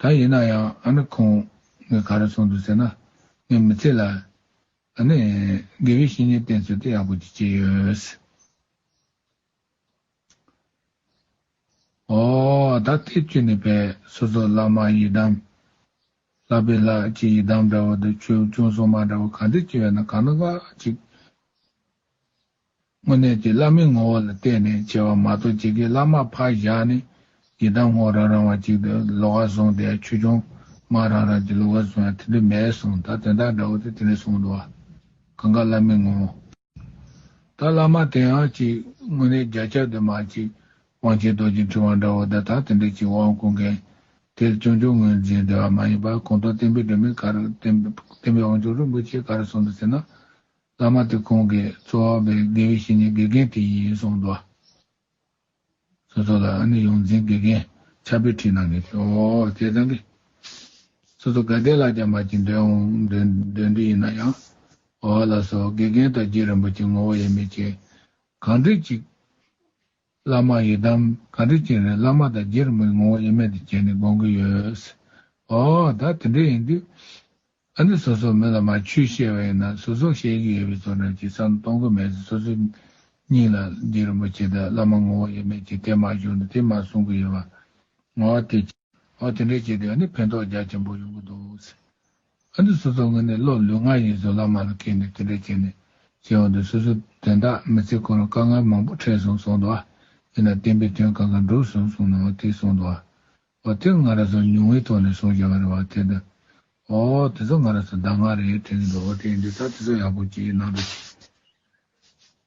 ད་ཡིན་ན་ཡང་ཨ་ནི་ཁོང་ངས་ག་རེ་གསུངས་འདུག་ཟེར་ན་ངས་མི་ཚེ་ལ། ད་ནི། དགེ་བའི་བཤེས་གཉེན་བསྟེན་ཚུལ་དེ་ཡག་པོ་ཅིག་བྱས་ཡོད། ཨོ། ད་ཐེག་ཆུ་ནི་བས་སོ་སོ་བླ་མ་ཡི་དམ། ལགས་པའི་ལགས་ཀྱི་ཡི་དམ་འདྲ་བོ་འདུག་ཆོས་སྐྱོང་སྲུང་མ་འདྲ་བོ་ག་འདི་ཅི་བས་ན་ག་ན་ག་ཅིག། སྔོན་གནས་ཀྱི་བླ་མའི་ངོ་བོ་ལ་བལྟས་ནས་བྱེད་པ་མ་གཏོགས་ཇི་དགེའི་བླ་མར་ཕར་བཞག་ནས་ཡི་དམ་ཧོ་རང་རང་བ་ཅིག་ཏུ་ལོག་ཨ་གསུངས་ཏེ་ཆོས་འབྱུང་མ་རང་རང་གི་ལུགས་ཨ་གསུངས་ཡང་དེ་འདྲ་མེད་གསུངས་ད་དོན་དག་འདྲ་བོ་དེ་དེ་འདྲ་གསུངས་འདུག་ཨ། གང་གཱ་བླ་མའི་ངོ་བོ། ད་བླ་མ་དེའང་གཅིག་སྔོན་གནས་རྒྱ་ཁྱབ་དེ་མ་གཅིག་དབང་ཆེན་རྡོ་རྗེ་འཕྲིན་བ་འདྲ་བོ་དེ་དང་དེ་འདྲ་གཅིག་དབང་བསྐུར་མཁན་དེར་སྐྱོན་ཆུང་ངུས་འཛིན་བདེ་བ་མ་ཡིན་པར་གོང་ཐོག་བསྟན་པའི་སྒྲོན་མེ་ག་རུ་བསྟན་པའི་དབང་ཆོག་རིན་པོ་ཆེ་ག་རུ་གསུངས་འདུག་ཟེར་ན། བླ་མ་དེ་ཁོང་གི་གཙོ་བ་བའི་དགེ་བའི་བཤེས་གཉེན་དགེ་རྒན་དེ་ཡིན་གསུངས་འདུག་ཟེར་སོ་ལ་ཨ་ནི་ཡོངས་འཛིན་དགེ་རྒན་ཕྱག་དཔེ་བྲིས་གནང་གི་འདུག་ཨོ་སྐལ་བཟང་གིས་སོ་སོ་དགའ་བདེ་ལ་ཀྱང་མ་བྱིན་འདོད་འོང་འདོད་འདོད་འདི་ཡིན་ན་ཡང་ཨོ་ལ་སོ་དགེ་རྒན་དང་རྗེ་རིན་པོ་ཆེ་ངོ་བོ་དབྱེར་མེད་ཅེས་གང་འགྲིག་ཅིག་བླ་མ་ཡི་དམ་ག་འདྲས་ཅན་རེད་བླ་མ་དང་རྗེར་མི་ངོ་ཡེ་མེད་དུ་བྱས་ནས་དགོངས་ཀྱི་ཡོད། ཨོ་ད་དེ་འདྲས་ཡིན་དུས། ཨ་འདི་སོ་སོ་མི་ལ་མ་ཆུས་བཤད་པ་ཡིན་ན་སོ་སོ་བཤད་ཀྱི་ཡོད་པའི་ཚོར་སྣང་ཅི་ཙམ་གཏོང་གི་མེད་ཟེར་སོ་སོ་གཉིས་ལ་རྗེ་རིན་པོ་ཆེ་དང་བླ་མ་ངོ་བོ་ཡེ་མེད་ཅིག་དེ་མ་བཞུགས་ན་དེ་མ་གསུང་གི་ཡོད་པ། ཨོ་དེ། ཨོ་དེ་འདྲས་བྱས་དུས་ཨ་འདི་ཕན་ཐོགས་རྒྱ་ཆེན་པོ་ཡོང་གི་འདུག། ཨ་འདི་སོ་སོ་ངོས་ནས་བློ་ལུས་ངག་ཡིད་བཟོད་ལག་མ་ལ་ཁེལ་ནས་དེ་འདྲ་བྱས་ནས་བྱས་འོང་དུས་སོ་སོ་དོན་དག་མི་ཚེ་གང་རུང་དཀའ་ངལ་མང་པོ་འཕྲད་སོང་སོང་འདུག་ཨ་ཡིན་ན་བསྟན་པའི་དོན་གང་གང་འགྲུབ་སོང་སོང་ནའང་དེ་སོང་འདུག་ཨ། ཨོ་དེ་ང་ར་ཚོ་ཉུང་བའི་ཐོག་ནས་སོང་བཞག་རེད་བ་དེ་འདི། ཨོ། དེ་ཚོ་ང་ར་ཚོ་ཟླ་ལྔ་རེད་དྲན་གྱི་འདུག་ཨོ་དེ་འདི་ད་དེ་ཚོ་ཡག་པོ་གྱིས་ནང་དུ་ཕྱིན།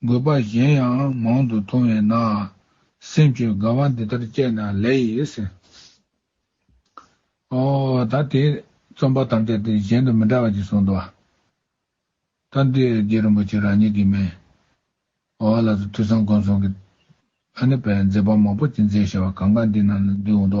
དགོས་པ་གཞན་ཡང་མང་དུ་མཐོང་བས་ན། སེམས་ཀྱི་དགའ་བ་འདི་ལྟར་སྤྱད་ན་ལེགས། ཨོ། ད་དེ་རྩོམ་པ་ཐམས་ཅད་དེ་གཞན་དུ་མི་འདྲ་བ་ཅིག་གསུངས་འདུག། ད་འདི་རྗེ་རིན་པོ་ཆེ་རང་ཉིད་ཀྱིས་མེད། ཨོ་ལ་སོགས་ཐོས་བསམ་སྒོམ་གསུམ་གྱི། ཨ་ནི་པའི་མཛད་པ་མང་པོ་ཅིག་མཛད་ཞེས་པ་གང་གཱ་འདི་རྣམས་ལ་འདུས་འོང་དུ།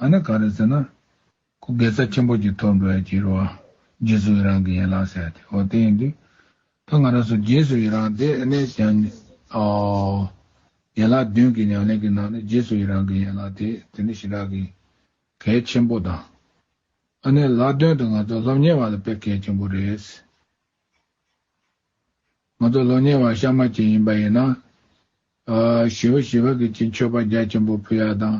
ང་ནི་ག་རེ་ཟེར་ན། ཁོ་དགེ་རྩ་ཆེན་པོ་གྱི་ཐོག་འགྲོ་ཡ་གྱི་རུ་བ་རྗེས་སུ་ཡི་རང་གི་ཡན་ལག་ཟེར་ཏེ་འོ་དེ་ཡིན་དུས། ད་ང་རང་ཚོ་རྗེས་སུ་ཡི་རང་དེ་གནས་ཀྱང། ཡན་ལག་བདུན་གྱི་ཉམས་ལེན་གྱི་ནང་ནས་རྗེས་སུ་ཡི་རང་གི་ཡན་ལག་དེ་དེ་ནི་ཞི་དྲག་གི་གལ་ཆེན་པོ་དང། ཨ་ནེ་ལག་དོན་དུ་ང་ཚོ་སློབ་གཉེར་བ་ལ་དཔེ་གལ་ཆེན་པོ་རེད། ང་ཚོ་ལོ་ཉེ་བར་ཤ་མ་བྱེད་ཡིན་པ་ཡིན་ན། བྱི་བ་བྱི་བ་གི་གྱི་མཆོད་པ་རྒྱ་ཆེན་པོ་ཕུལ་ཡ་དང།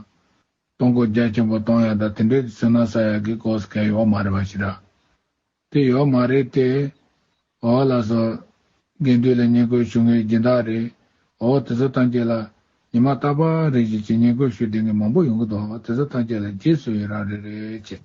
གཏོང་སྒོ་རྒྱ་ཆེན་པོ་གཏོང་ཡ་དང་དེ་འདྲའི་ཚུལ་ན་ས་ཡ་གི་གོ་ས་ཁས་ཡོག་མ་རེད་པ་ཞིག་ར། དེ་ཡོག་མ་རེད་དེ། འོ་ལ་སོ། དགེ་འདུན་ལ་བསྙེན་བཀུར་ཞུ་ངེས་སྦྱིན་བདག་རེད། འོ་དེ་ཚོ་ཐམས་ཅད་ལ། ཉི་མ་རྟག་པ་རེ་བཞིན་གྱི་བསྙེན་བཀུར་ཞུ་དེ་ངས་མང་པོ་ཡོང་གི་འདུག་དེ་ཚོ་ཐམས་ཅད་ལ་རྗེས་སུ་ཡི་རང་རེ་རེད།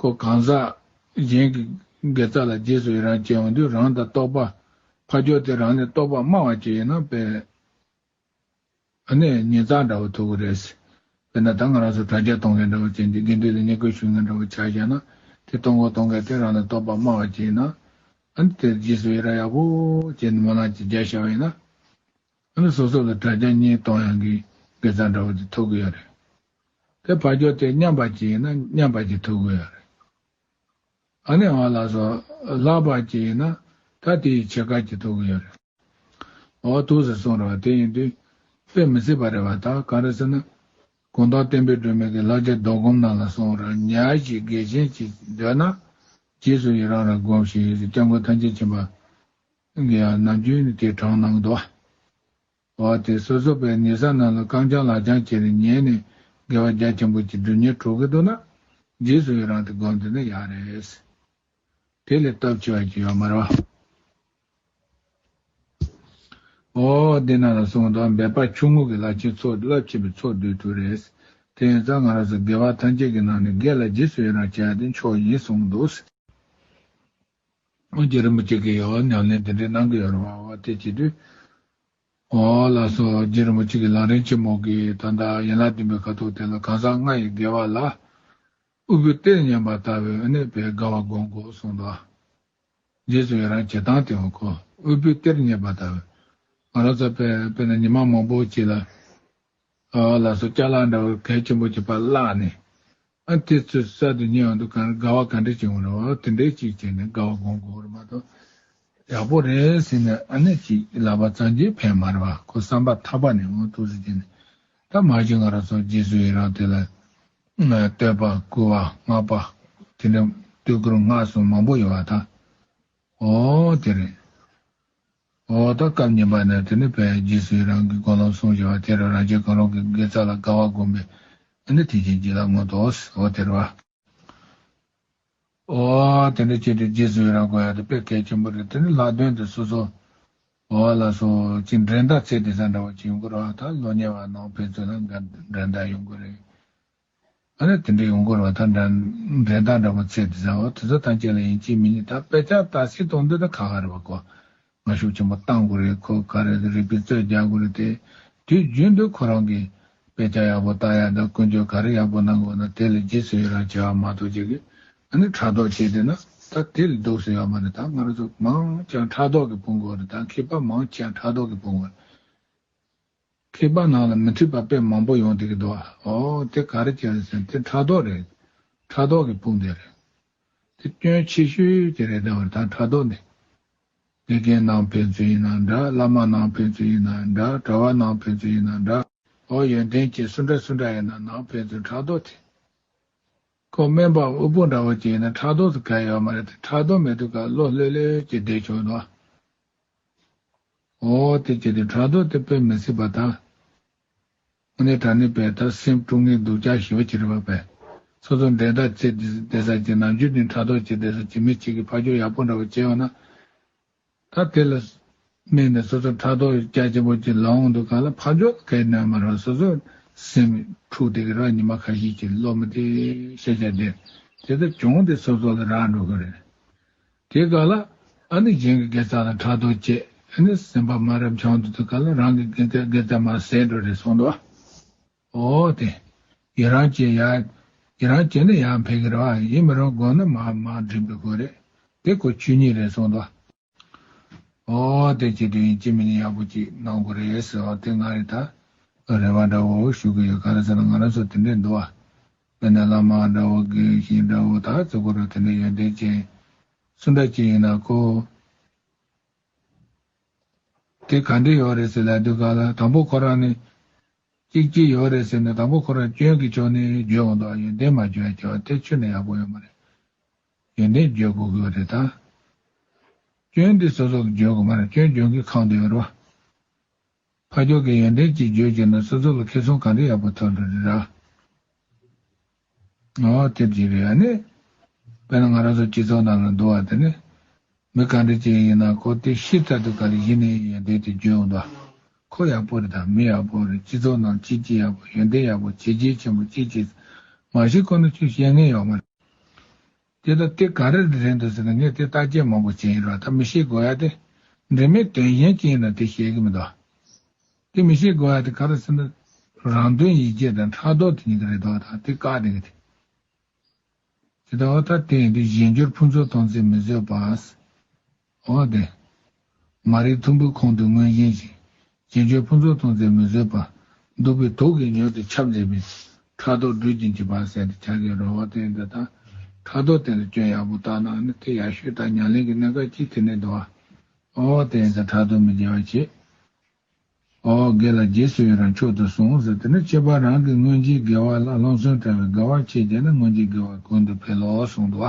ཁོ་གང་ཟག་གཞན་གྱི་དགེ་རྩ་ལ་རྗེས་སུ་ཡི་རང་བྱེད་འོང་དུས་རང་དང་རྟོགས་པ་ཕ་ཇོ་དེ་རང་ནས་རྟོགས་པ་སྨྲ་བ་ཅིག་ཡིན་ན་དཔེ་ནི་ཉིན་གཙང་འདྲ་བོ་ཐུག་གི་རེད། དཔེར་ན་ད་ང་རང་ཚོ་དྲ་རྒྱ་གཏོང་མཁན་འདྲ་བོ་བྱས་འདུག་དགེ་འདུན་ལ་ཉེས་སྐོལ་ཞུ་མཁན་འདྲ་བོ་ཆགས་བཞག་ན་དེ་གཏོང་གོ་གཏོང་མཁན་དེ་རང་ནས་རྟོགས་པ་སྨྲ་བ་ཅིག་ཡིན་ན། དེར་རྗེས་སུ་ཡི་རང་ཡག་པོ་བྱེད་འདུག་མ་ལག་ཅིག་རྒྱག་ཤར་བ་ཡིན་ན། ང་ལ་ཟུར་ཟུར་གྱི་དྲ་རྒྱ་གཉིས་གཏོང་ཡང་གི་དགེ་རྩ་འདྲ་བོ་དེ་ཐོབ་གི་ཡོད་རེད། དེ་བར་སྐྱོར་དེ་མཉམ་པར་གྱིས་ཡིན་ན་མཉམ་པར་གྱིས་ཐོབ་གི་ཡོད་རེད། ཨ་ནེ་ཨོ་ལགས་སོ་ལྷག་པར་གྱིས་ཡིན་ན་ད་དེ་ཡི་ཕྱེད་ཀར་གྱིས་ཐོབ་གི་ཡོད་རེད། ཨོ་ཐུགས་ཟེར་སོང་རེད་བ་དེ་ཡིན་དུས་དཔེ་མི་སྲིད་པ་རེད་བ་ད་གང་རེད་ཟེར་ན། དགུང་ཐོག་བསྟན་པའི་སྒྲོན་མེ་གི་ལག་ཆ་རྡོ་སྒོམ་ནང་ལ་སོང་རེད་ཉག་གཅིག་དགེ་ཆེན་གྱིས་འདོད་ན། རྗེས་སུ་ཡི་རང་རང་སྒོམ་ཞེས་ཡོད་ཚད་སྐྱབས་མགོན་ཐམས་ཅད་མཁྱེན་པ། སྟེང་གི་ཡང་ནམ་རྒྱུན་ནི་དེའི་བྲང་ནང་དུ། བ་དེ་སོ་སོ་པའི་ཉེ་ས་རྣམས་ལ་རྐང་བརྐྱང་ལག་བརྐྱང་བྱས་ནས་ཉལ་ནས་དགེ་བ་རྒྱ་ཆེན་པོ་གྱི་འབྲུ་ཉེར་དྲུག་གིས་བསྡུ་ན། རྗེས་སུ་ཡི་རང་དེ་སྒོམ་འདོད་ན་ཡག་རེད། དེ་ལས་སྟོབས་ཆེ་བ་ཅི་ཡོད་མ་རེད། འོ། འདི་རྣམས་ལ་གསུངས་དོན་འབད་པ་ཆུང་ངུ་གི་བླ་ཆེན་ཚོགས་རླབས་ཆེན་པོའི་ཚོགས་འདུའི་དུས་རེད། དེ་ཡིན་ཙང་ང་རང་སོགས་དགེ་བ་ཐམས་ཅད་ཀྱི་ནང་ནས་དགེ་ལ་རྗེས་སུ་ཡི་རང་བྱས་ཏེ་མཆོག་ཡིན་གསུངས་འདུག། སྔོན་གྱི་རིན་པོ་ཆེ་གི་ཡོལ་བ་ཉམས་ལེན་དེ་འདྲའི་གནང་གི་ཡོད་རེད་བ་བ་དེ་བྱས་དུས། འོ་ལ་སོ་རྗེ་རིན་པོ་ཆེ་གི་ལག་ལེན་ཆེན་མོ་གི་ད་ལྟ་ཡན་ལག་བདུན་པའི་ཁ་དོག་དེ་ལ་གང་ཟག་ལྔ་ཡི་དགེ་བ་ལ། དབུལ་པོའི་གཏེར་ཉམས་པ་ལྟ་བུའི་དབུལ་ནད་པའི་དགའ་བ་སྒོམ་དགོས་གསུངས་དོ། རྗེས་སུ་ཡི་རང་བྱེད་སྟངས་དེ་འོ་ཁོ་དབུལ་པོའི་གཏེར་རྙེད་པ་ལྟ་བུ། ང་རང་ཚོ་དཔེར་ན་ཉི་མ་མང་པོ་བྱས་ལ། ལ་སོགས་སྐྱ་ལག་འདྲ་བར་གལ་ཆེན་པོ་གྱི་པར་བཀླགས་ནས། ཨ་དེ་ཚོའི་གསར་དུ་རྙེད་འོང་དུ་གང་དགའ་བ་ག་འདྲ་བྱུང་བ་རེད་བ་དེ་འདྲའི་ཅིག་བྱས་ནས་དགའ་བ་སྒོམ་དགོས་རེད་མ་གཏོགས། ཡག་པོ་རེད་ཟེར་ནས་ཨ་ནེ་ཅིག་ལབ་པ་ཙང་རྗེས་ཕན་མ་རེད་བ་ཁོ་བསམ་པ་ཐག་པ་ནས་འོང་ཐུགས་གཟིགས་བྱས་ནས། ད་མ་གཞི་ང་རང་སོགས་རྗེས་སུ་ཡི་རང་དེ་ལ། བསྟོད་པ་བསྐུལ་བ་བསྔགས་པ། དེ་འདྲ་བསྟོད་བསྐུལ་བསྔགས་གསུམ་མང་པོ་ཡོད་བ་དང། འོ་དེ་རེད། འོ་ད་སྐབས་ཉིན་པ་ནས་དེ་ནི་བས་རྗེས་སུ་ཡི་རང་གི་སྒོ་ལམ་སྲུང་ཞེས་པ་དེ་རུ་རང་བྱས་གང་རུང་གི་དགེ་རྩ་ལ་དགའ་བ་བསྒོམ་པས་ཨ་ནི་དེ་བཞིན་གྱིས་ལ་མངོན་ཏོ། འོ་དེར་བ། འོ། དེ་འདྲ་བྱས་ཏེ་རྗེས་སུ་ཡི་རང་གོ་ཡང་དེ་བས་གལ་ཆེན་པོ་རེད་དེ་ནི་ལྷག་དོན་དུ་སོ་སོ། འོ་ལ་སོ། ཅིག་འགྲན་ཟླ་ཚད་དེ་ས་འདྲ་བ་ཅིག་ཡོང་གི་རོགས་ད་ལོ་ཉེ་བར་ནང་ཕན་ཚུན་ལ་འགྲན་ཟླ་ཡོང་གི་རེད། ཨ་རེ་དེ་འདྲའི་ཡོང་སྐོར་བ་དང་འདྲ། འགྲན་ཟླ་འདྲ་པོ་ཚེ་འདི་ཟ་བ་དེ་ཟ་ཐང་ཅན་ལ་ཡིན་གཅིག་མི་གཉིས་དང་དཔེ་ཆ་ལྟ་སྲིད་གཏོང་འདོད་ད་ཁ་ཁ་རེད་བ་ཀོ། ང་ཤུགས་ཆེན་པོ་བཏང་དགོས་རེད་ཁོ་ག་རེ་ཟ་རིག་པའི་རྩོད་རྒྱག་དགོས་རེད་དེ་དུས་རྒྱུན་དུ་ཁོ་རང་གིས་དཔེ་ཆ་ཡག་པོ་བལྟ་ཡག་དང་ཀུན་སྤྱོད་ག་རེ་ཡག་པོ་གནང་དགོས་ན་དེ་ལས་རྗེས་སུ་ཡི་རང་ཆེ་བ་མ་གཏོགས་ཅི་གི་ཨ་ནི་ཕྲག་དོག་བྱེད་འདོད་ན་ད་དེ་ལས་སྡུག་སུ་ཡོད་མ་རེད་ད་ང་རང་ཚོ་མང་ཅང་ཕྲག་དོག་གིས་ཕུང་དགོས་རེད་ད་མཁས་པ་མང་ཅང་ཕྲག་དོག་གིས་ཕུང་བ་རེད། མཁས་པ་ནང་ལ་མི་འཁྲིད་པ་དཔེ་མང་པོ་ཡོང་སྡད་ཀྱི་འདུག་ཨོ་དེ་ག་རེ་བྱས་རེད་ཟེར་ན་དེ་ཕྲག་དོག་རེད། ཕྲག་དོག་གི་དཔུང་སྡེ་རེད། དེ་སྐྱོན་ཆེ་ཤོས་དེ་རེད་ད་བར་ད་ཕྲག་དོག་ནི། དགེ་རྒན་ནང་ཕན་ཚུན་ཡིན་ན་འདྲ་བླ་མ་ནང་ཕན་ཚུན་ཡིན་ན་འདྲ་གྲྭ་བ་ནང་ཕན་ཚུན་ཡིན་ན་འདྲ། ཨོ་ཡོན་ཏན་བཅས་སུ་འདྲ་སུ་འདྲ་ཡིན་ན་ནང་ཕན་ཚུན་ཕྲག་དོག་དེ། ཁོ་སྨན་པའམ་དབུལ་པོ་འདྲ་བོ་ཅིག་ཡིན་ན་ཕྲག་དོག་སུ་ག་ཡོད་མ་རེད་དེ་ཕྲག་དོག་མེད་དུས་ཀ་བློ་ལྷོད་ལྷོད་ཀྱིས་བསྡད་ཆོག་འདུག་ཨ། འོ་དེ་ཅི་སྟེ་བྲག་རྡོ་དེ་དཔེ་མི་སྲིད་པ་དང། མོ་ནི་བྲག་ནི་དཔེ་ལྟར་སེམས་དཀྲུག་ངེས་འདུག་ཅག་ཞི་བ་ཅི་རིགས་པ་བས། སོ་སོ་འགྲན་ཟླ་ཅི་བདེ་ས་ཅི་ནམ་རྒྱུན་དུ་བྲག་རྡོ་ཅི་བདེ་ས་ཅི་མི་གཅིག་གི་ཕ་ཁྱོ་ཡག་པོ་འདྲ་བོ་བྱས་བ་ན། ད་དེ་ལ་སྨད་ནས་སོ་སོ་བྲག་རྡོ་རྒྱ་ཆེན་པོ་ཅིག་ལོངས་འདུག་ག་ལ་ཕ་ཁྱོ་གས་ནོན་མ་རུང་སོ་སོས་སེམས་འཁྲུག་དེ་གི་རག་ཉི་མ་ཁ་ཤིག་ཅིག་ལོ་མི་དེ་ཤེས་བྱ་དེ་དེ་ལྟར་བྱུང་དེ་སོ་སོ་ལ་རག་འགྲོ་གི་རེད། དེ་ག་ལ། ཨ་ནི་གཞན་གྱི་དགེ་རྩ་ལ་ཕྲག་དོག་བསྐྱེད། ཨེ་ནི་སེམས་དཔའ་མ་རབ་འབྱམས་དུ་དེ་ག་ལ་རང་གི་དགེ་རྩའི་དགེ་རྩ་མ་ཟད་འགྲོ་རེ་སོང་དུ། ཨོ་དེ། ཡི་རང་བྱེད་ཡ། ཡི་རང་བྱེད་ན་ཡང་འཕེལ་གི་རེད་བ་ཡིན་མི་རུང་དགོངས་ན་མ་མ་འགྲིག་པའི་སྐོར་རེད། དེ་ཁོ་ཆོས་ཉིད་རེ་སོང་དུ། ཨོ་དེ་བྱེད་དུ་ཡིན་ཅི་མི་ཡིན་ཡག་པོ་ཅིག་གནང་དགོས་རེད། ཨོ་དེ་ང་རེ་ད། རེ་བ་འདྲ་བོ་ཞུ་གི་ཡོད་ག་ལ་ཟེར་ན་ང་རང་ཚོ་དེ་འདྲས་འདུག་བ། དེ་ནས་བླ་མ་དགྲ་བོ་དགེ་ཞིང་དགྲ་བོ་དག་བརྩི་བར་དེ་འདྲའི་ཡོན་ཏན་ཅན། སུ་འདྲ་ཅི་ཡིན་ན་ཀོ། དེ་ག་འདྲས་ཡོད་རེད་ཟེར་ལ་དུས་ག་ལ་དང་པོ་ཁོ་རང་ནི། ཅིག་ཅིག་ཡོད་རེད་ཟེར་ནས་དང་པོ་ཁོ་རང་སྐྱོན་གྱི་ཕྱོགས་ནི་བརྗོད་འོང་དང་ཡོན་ཏན་མ་བརྗོད་ཡ་ཁྱོད་ལ་ཐེ་ཆུ་ནས་ཡག་པོ་ཡོད་མ་རེད། ཡོན་ཏན་བརྗོད་དགོས་གི་རེད་ད། སྐྱོན་འདི་སོ་སོ་གི་བརྗོད་དགོས་མ་རེད་སྐྱོན་བརྗོད་མཁན་གང་དུ་ཡོད་རེད་བ། ཕ་མཆོག་གི་ཡོན་ཏན་ཅིག་བརྗོད་ཅེ་ན་སོ་སོ་ལ་ཁེ་སོང་གང་འདྲ་ཡག་པོ་ཐོག་འགྲོ་རེད་ར། ང་བག་ཐེབས་ཅིག་རེད་ཨ་ནི། དཔེར་ན་ང་རང་ཚོ་སྤྱི་ཚོགས་ནང་ལ་འདུ་བ་དེ་ནི། མི་གང་འདྲ་ཅིག་ཡིན་ན་ཁོ་དེ་ཤི་ཚར་དུས་ག་རེ་གཞི་ནས་ཡོན་ཏན་དེ་བརྗོད་འོང་ད། ཁོ་ཡག་པོ་རེད་དམ་མི་ཡག་པོ་རེད་སྤྱི་ཚོགས་ནང་ཅི་ཅི་ཡག་པོ་ཡོན་ཏན་ཡག་པོ་བྱས་རྗེས་ཆེན་པོ་ཅི་བྱས། མ་བྱས་ཁོ་ན་ཆུ་བཤད་ངེས་ཡོག་མ་རེད། དེ་ལྟ་དེ་ག་རེ་རེད་འདུག་ཟེར་ན་ངས་དེ་བརྟག་དཔྱད་མང་པོ་བྱས་ཡིན་རོགས་ད་མི་ཤེས་དགོས་ཡ་དེ། འབྲེལ་མེད་དོན་གཞན་ཅི་ཡིན་ན་དེ་ཤེས་ཀྱི་མི་འདུག་ཨ། དེ་མི་ཤེས་དགོས་ཡ་དེ་ག་རེ་ཟེར་ན། རང་དོན་ཡིད་བྱེད་དང་ཕྲག་དོག་དེ་གཉིས་ཀ་རེད་འདུག་ཨ་ད་དེ་བཀག་དེ་གི་དེ། དེ་ལྟ་བ་ད་དེ་ཡིན་དུས་གཞན་འགྱུར་ཕུན་ཚོགས་གཏོང་ཚེ་མི་བཟོད་པ། འོ་བདེ། མ་རིག་ཐུམ་འབུའི་ཁོང་དུ་མངོན་བཞིན་ཅིང། རྗེས་འཇུག་ཕུན་ཚོགས་མཐོང་ཚེ་མི་བཟོད་པ། གདུག་པའི་དུག་གིས་མྱོས་ཏེ་ཁྱབ་མཛད་པའི། ཕྲག་དོག་སྦྲུལ་གྱིས་འཇིབ་པར་བསད་དེ་བྱ་དགའི་རོལ་བ་བསྟན། འདི་ལྟར་ཕྲག་དོག་བསྟན་ལ་སྐྱོན་ཡག་པོ་བརྟག་ན་ནི་དེ་ཡག་ཤོས་དག་མྱ་ལན་གྱི་གནས་སྐབས་ཀྱིས་དེ་ནས་འདུ། འོ་བདེ། དེ་ཕྲག་དོག་མི་སྐྱེ་བར་བྱེད། འོ་བརྒལ་ལ་རྗེས་སུ་ཡི་རང་མཆོག་ཏུ་གསུངས། དེ་ནས་ཁྱད་པར་རང་གི་སྔོན་རྗེས་དགེ་བ་ལ་སློང་གསོན་བྲལ་བའི་དགེ་བ་ཆེ་བརྒྱད་ནི་སྔོན་རྗེས་དགེ་བ་ཀུན་ཏུ་འཕེལ་ལོ་གསུངས། འདུ་བ་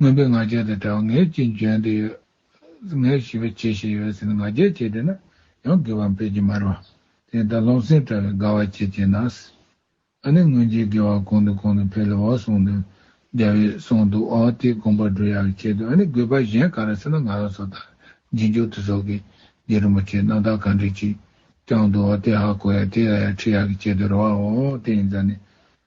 མངོན་པའི་ང་རྒྱལ་དང་བྲལ་བ་ངའི་ཅི་འཇོན་དུ་ཡོད། ངའི་ཞི་བའི་ཆེ་ཞེས་ཡོད་ཟེར་ནས་ང་རྒྱལ་བྱེད་འདོད་ན་ཡང་དགེ་བ་འཕེལ་གྱི་མ་རེད། དེ་ལྟར་རློམ་སེམས་བཀྲ་བའི་དགའ་བ་བྱེད་ཅེས་ན། ཨ་ནི་སྔོན་རྗེས་དགེ་བ་གང་དང་གང་དུ་འཕེལ་ལོ་གསུངས་དོན། རྒྱ་བོས་གསུངས་འདུག་ཨོ་དེ་དགོངས་པ་འགྲོ་ཡག་གི་ཆེད་དུ་ཨ་ནི་དགོས་པ་གཞན་ག་རེ་ཟེར་ན་ང་རང་སོ་ད་རྗེས་འཇུག་དུ་ཟོག་གི་རྗེ་རིན་པོ་ཆེས་རྣམ་དག་གང་དྲིས་ཅིག་བསྐྱངས་འདུག་ཨོ་དེ་ཧ་གོ་ཡག་དེ་ལ་ཡང་ཁྲིད་ཡག་གི་ཆེད་དུ་རེ་བའོ་དེ་ཡིན་ཙང་ནི།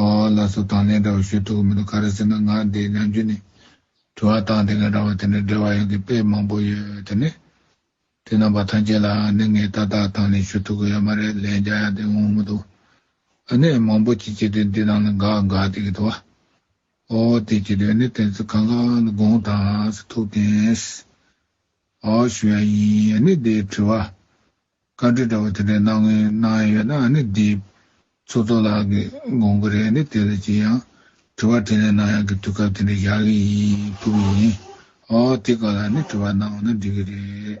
ཨོ་ལགས་སོ་དང་ལེན་འདྲ་བོ་ཞུ་ཐུབ་གི་མི་འདུག་ག་རེ་ཟེར་ན་ང་འདི་ནམ་རྒྱུན་ནས་དྲི་བ་བཏང་དེ་ང་འདྲ་བ་དེ་འདྲ་འབྲེལ་བ་ཡོང་གི་དཔེ་མང་པོ་ཡོད་དེ་ནས་དེ་རྣམ་པ་ཐམས་ཅད་ལའང་ནི་ངས་ཏག་ཏག་དང་ལེན་ཞུ་ཐུབ་གི་ཡོད་མ་རེད་ལན་རྒྱག་ཡག་དེ་ངོ་མི་འདུག་ཨ་ནས་མང་པོ་ཅིག་བྱས་དུས་འདི་རྣམས་ལ་འགག་འགག་བསྡད་གི་འདུག་ཨོ་དེ་བྱས་དུས་ནི་དེ་ཚོ་གང་གང་ལ་དགོངས་དག་ཐུག་དེས་ཨོ་ཞུ་ཡ་ཡིན་ཨ་ནས་འདི་དྲི་བ་བཀའ་འཁྲོལ་འདྲ་བོ་དེ་འདྲ་གནང་གིན་གནང་ཡོད་ན་ནི་འདི་ཚོགས་གཙོ་ལགས་ཀྱི་དགོངས་པ་རེད་ནི་དེ་ལ་ཅི་ཡང་དྲི་བ་དྲིས་ལན་གནང་ཡག་གི་དུས་སྐབས་དེ་འདྲ་ཞག་གི་ཡིན་ཕུག་གི་ཡིན་ཨོ་དེ་ག་ལ་ནི་དྲི་བ་གནང་བ་ན་འགྲིག་གི་རེད།